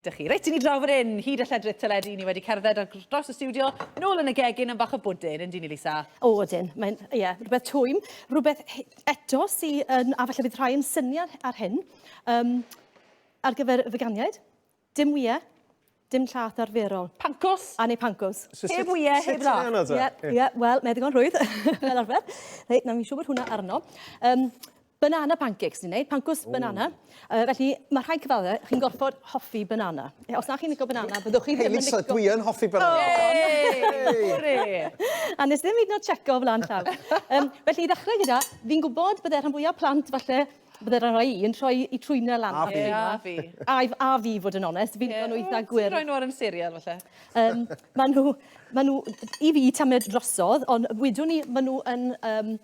Dych chi. Reit, i ni draw fan hyn, hyd y lledrith teledu, ni wedi cerdded ar dros y stiwdio, nôl yn y gegin am bach o bwdin, yndyn ni, Lisa? O, ydyn. Mae'n, ie, rhywbeth twym. Rhywbeth eto sy yn, a falle bydd rhai yn syni ar, ar hyn, um, ar gyfer y veganiaid, dim wyau, dim llath arferol. Pancos? A neu pancos. So, heb wyau, heb lath. Ie, ie, wel, mae ddigon rhwydd, fel arfer. Reit, na, mi'n siŵr bod hwnna arno. Um, Banana pancakes ni'n neud, pancws banana. Uh, felly, mae rhai cyfadde, chi'n gorfod hoffi banana. E, os na chi'n licio banana, byddwch chi ddim yn licio... Hei, Lisa, dwi yn hoffi banana. Hei! A nes ddim hyd yn checo o flan llaw. um, felly, i ddechrau gyda, fi'n gwybod bydde rhan fwyaf plant falle bydde rhan rhai yn troi i trwyna lan. A fi. A fi. A, a fi, fod yn onest. Fi'n yeah. eitha gwir. Ti'n rhoi nhw ar yn serial, falle. Um, maen nhw, maen nhw, i fi tamed drosodd, ond wydwn ni, maen nhw yn... Um,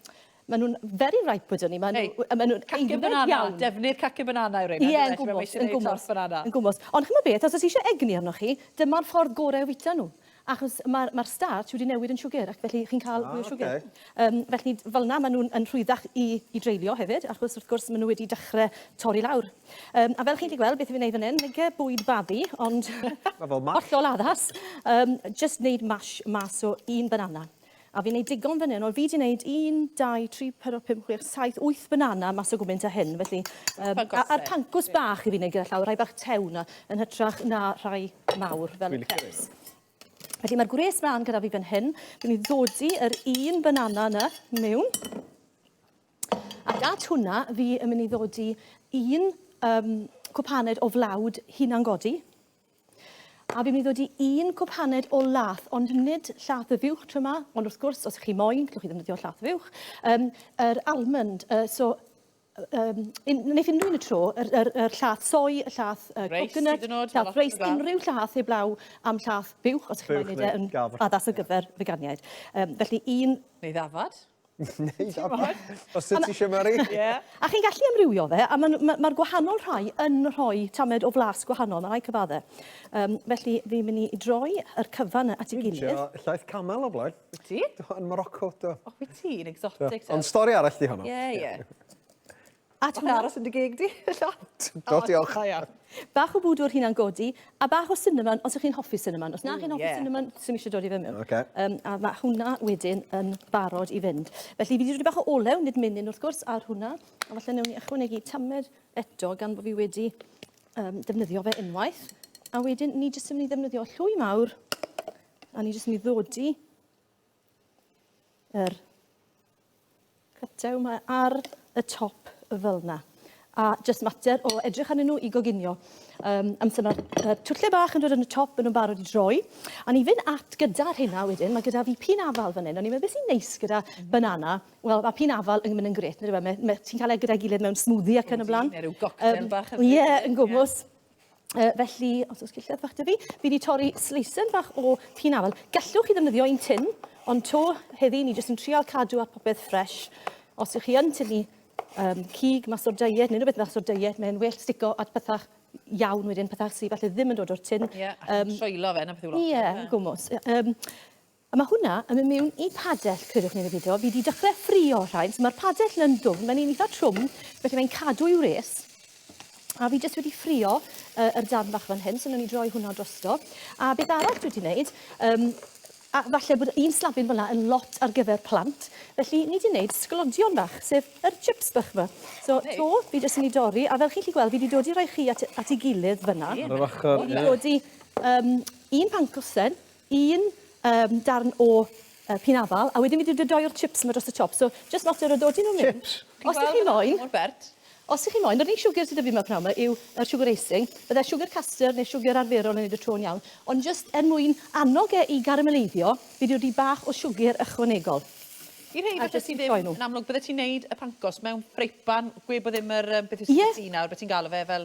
Maen nhw'n very ripe wedyn ni. Maen nhw... Hey, maen nhw'n cacio banana. Iawn. Defnydd cacio banana yw rhain. Ie, yn gwmwys, yn gwmwys. Banana. Yn gwmwys. Ond chymod beth, os oes eisiau egni arnoch chi, dyma'r ffordd gorau o fwyta nhw. Achos mae'r ma starch wedi newid yn siwgr, ac felly chi'n cael ah, mwy o siwgr. Okay. Um, felly, fel yna, maen nhw'n rhwyddach i, i dreulio hefyd, achos wrth gwrs maen nhw wedi dechrau torri lawr. Um, a fel chi'n gallu gweld, beth fi'n ei fan hyn, nege bwyd babi, ond... Mae fel mash. Hollol addas. Um, just wneud mash mas o un banana. A fi'n neud digon fan hyn. Wel fi 'di neud un, dau, tri, pedwar, pump, chwech, saith, wyth banana mas o gwmynt a hyn, felly... Um, a'r pancws bach i fi neud gyda llaw, rhai bach tew na, yn hytrach na rhai mawr fel y crepes. Felly mae'r gwres mlaen gyda fi fan hyn. Dwi'n mynd i ddodi yr un banana yna mewn. Ac at hwnna, fi yn mynd i ddodi un um, cwpaned o flawd hunan godi. A fi'n mynd i ddod i un cwp haned o lath, ond nid llath y fuwch tro yma, ond wrth gwrs, os ych chi moyn, gallwch chi ddefnyddio llath fuwch, um, yr almond, uh, so um, un, wneud unrhyw un y tro, yr, yr, yr llath soi, y llath uh, coconut, llath reis, unrhyw llath heblaw am llath buwch, os ydych chi'n gwneud e yn addas ar gyfer veganiaid. Um, felly un... Neu ddafad. Neu dafad, os ti eisiau Mari. Yeah. A chi'n gallu amrywio fe, a mae'r ma, ma gwahanol rhai yn rhoi tamed o flas gwahanol, mae rhai cyfadde. Um, felly, fi'n mynd i droi yr cyfan at ei gilydd. Dwi'n llaeth camel o blaen. Wyt ti? Do, yn Morocco, do. O, wyt ti, yn exotic. Ond stori arall di honno. Ie, ie. A ti'n aros yn dy gig di? Do, diolch. Da iawn. Bach o bwdwr hunan godi, a bach o cinnamon os ych chi'n hoffi cinnamon. Os na chi'n hoffi cinnamon, sy'n eisiau dod i fe mewn. Okay. Um, a mae hwnna wedyn yn barod i fynd. Felly, fi wedi rhoi bach o olew, nid menyn wrth gwrs, ar hwnna. A falle newn ni ychwanegu tamed eto gan bod fi wedi um, defnyddio fe unwaith. A wedyn, ni jyst yn mynd i ddefnyddio llwy mawr, a ni jyst yn mynd i ddodi yr cytew yma ar y top fel yna. A jyst mater o edrych arnyn nhw i goginio. Um, amser mae'r uh, twlle bach yn dod yn y top, yn nhw'n barod i droi. A ni fynd at gyda'r hynna wedyn, mae gyda fi pin afal fan hyn. O'n i'n meddwl beth sy'n neis gyda banana. Wel, mae pin afal yn mynd yn gret. Ti'n cael e gyda'i gilydd mewn smoothie ac yn y blaen. Neu rhyw goctel um, bach. Ie, yn gwmwys. Yeah. Uh, felly, os oes cilledd fach dy fi, fi wedi torri sleisen fach o pin afal. Gallwch chi ddefnyddio un tin, ond to heddi ni jyst yn trial cadw ar popeth ffres. Os ych chi yn tylu um, cig mas o'r diet, neu rhywbeth mas o'r diet, mae'n well stico at pethach iawn wedyn, pethach sydd falle ddim yn dod o'r tin. Ie, yeah, um, troello fe, na beth yw lot. Ie, yeah, gwmwys. Um, A ma hwnna yn myn miwn i padell credwch ne ne pido fi di dychre ffrio rhain so ma'r padell yn dwfn mae'n un itha trwm felly mae'n cadw i wres a fi jyst wedi ffrio yy yr darn fach fan hyn so newn ni droi hwnna drosto a beth arall dwi di neud yym a falle bod un slafyn fel na yn lot ar gyfer plant felly ni di neud sglodion fach sef yr chips bach ma so to fi jyst yn i dorri a fel chi'n llu gweld fi di dod i roi chi at at i gilydd fan na ar yr ochor ie fi di dod i yym un pan cosen un yym darn o yy pin afal a wedyn fi 'di dydoi'r chips 'ma dros y top so jyst mater o dodi nhw mewn. Chips? Os dych chi moyn. Mor bert. Os dych chi moyn yr unig siwgr sy 'da fi 'ma pnawn 'ma yw yr siwgr icing. Bydde siwgr custard neu siwgr arferol yn neud y to yn iawn ond jyst er mwyn annog e i garameleiddio fi 'di roi bach o siwgr ychwanegol. I rhei falle sy ddim yn amlwg bydde ti'n neud y pancos mewn ffreipan gwe bo ddim yr yym beth yw spaghetti nawr be ti'n galw fe fel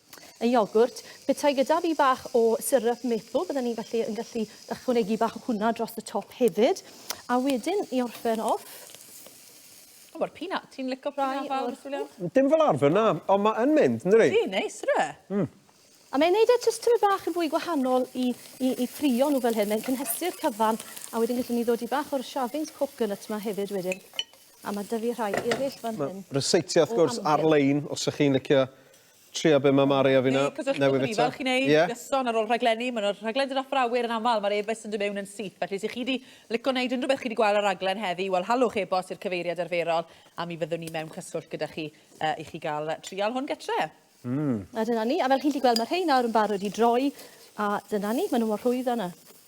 Y iogwrt. Petai gyda fi bach o syrup maple bydden i'n gallu yn gallu ychwanegu bach o hwnna dros y top hefyd. A wedyn i orffen off. O ma'r peanut, ti'n lico peanut fawr Julia? Dim fel arfer na, ond ma' yn mynd yndydi? Ydi, neis ydyw e? Mm. A mae'n neud e jyst tymed bach yn fwy gwahanol i i i ffrio nhw fel hyn, mae'n cynhesu'r cyfan a wedyn gellwn ni ddod i bach o'r shavings coconut ma hefyd wedyn. A ma' dyfu rhai eryll fan hyn. Ma' ryseitiau wrth gwrs ar-lein os ych chi'n licio Trio be mae Mari a fi nawr. Neu cysylltwch â ni fel chi'n ei gyson ar ôl rhaglenni. Mae yna rhaglen dod off awyr yn aml, mae'r e-byst yn dod mewn yn syth. Felly os ych chi wedi lico wneud unrhyw beth chi wedi gweld ar raglen heddi, wel halwch e-bost i'r cyfeiriad arferol a mi fyddwn ni mewn cyswllt gyda chi uh, i chi gael trial hwn gytre. Mm. A dyna ni. A fel chi'n gallu gweld, mae rhai nawr yn barod i droi. A dyna ni, maen nhw mor rhwydd yna.